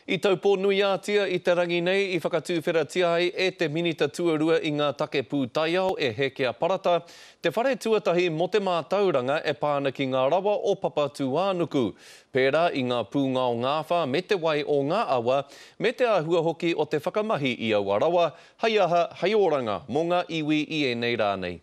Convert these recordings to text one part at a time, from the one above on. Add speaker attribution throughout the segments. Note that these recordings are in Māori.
Speaker 1: I Taupō-nui-ā-Tia i te rangi nei i whakatūwheratia ai e te Minita Tuarua i ngā Take Pūtaiao e Hēkea Parata te whare tuatahi mō te mātauranga e pā ana ki ngā rawa o Papatūānuku, pērā i ngā pūngao ngāwhā me te wai o ngā awa, me te āhua hoki o te whakamahi i aua rawa, hei aha, hei oranga mō ngā iwi i ēnei rā nei.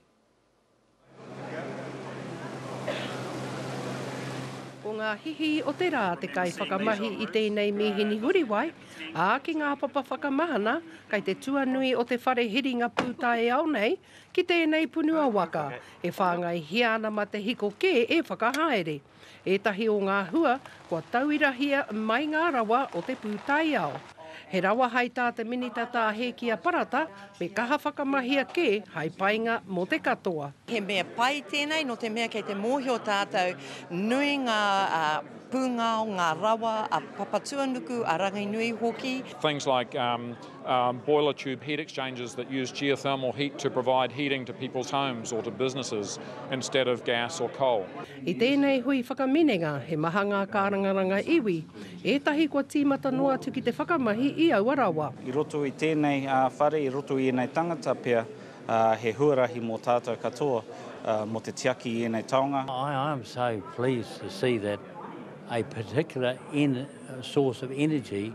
Speaker 2: Ko ngā hihi o te rā te kaiwhakamahi i tēnei mīhini Huriwai, ā, ki ngā papa whakamahana, kei te tuanui o te whare hiringa pūtaiao nei, ki tēnei punua waka, e whāngaihia ana ma te hiko kē e whakahaere. Ētahi o ngā hua kua tauirahia mai ngā rawa o te pūtaiao. He rawa hai tā te Minita Tā Hēkia Parata me kaha whakamahia kē hai painga mō te katoa. He mea pai
Speaker 3: tēnei nō te mea kei te mōhio tātou nui ngā pūngao, ngā rawa a Papatuanuku, a Ranginui hoki. Things like.
Speaker 4: um, boiler tube heat exchangers that use geothermal heat to provide heating to people's homes or to businesses instead of gas or coal. I tēnei hui
Speaker 2: whakaminenga, he maha ngā kārangaranga iwi, ētahi kua tīmata noa atu ki te whakamahi i aua rawa. I roto i tēnei
Speaker 5: uh, whare, i roto i ēnei tangata pea, uh, he huarahi mō tātou katoa uh, mō te tiaki i ēnei taonga. I am so
Speaker 6: pleased to see that a particular en source of energy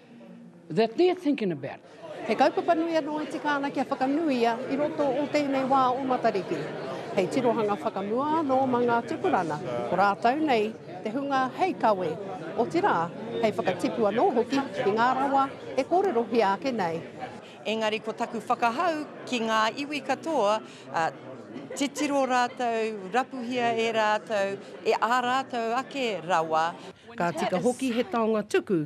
Speaker 7: that they're thinking about it. He kaupapa nui
Speaker 2: anō i tika ana kia whakanuia i roto o tēnei wā o Matariki. Hei tirohanga whakamua anō mā ngā tupurana o rātou nei te hunga hei kawe, otirā, hei whakatipu anō hoki i ngā rawa e kōrerohia ake nei. Engari ko
Speaker 3: taku whakahau ki ngā iwi katoa, titiro rātou, rapuhia e rātou, e ā rātou ake rawa. Ka tika hoki
Speaker 2: he taonga tuku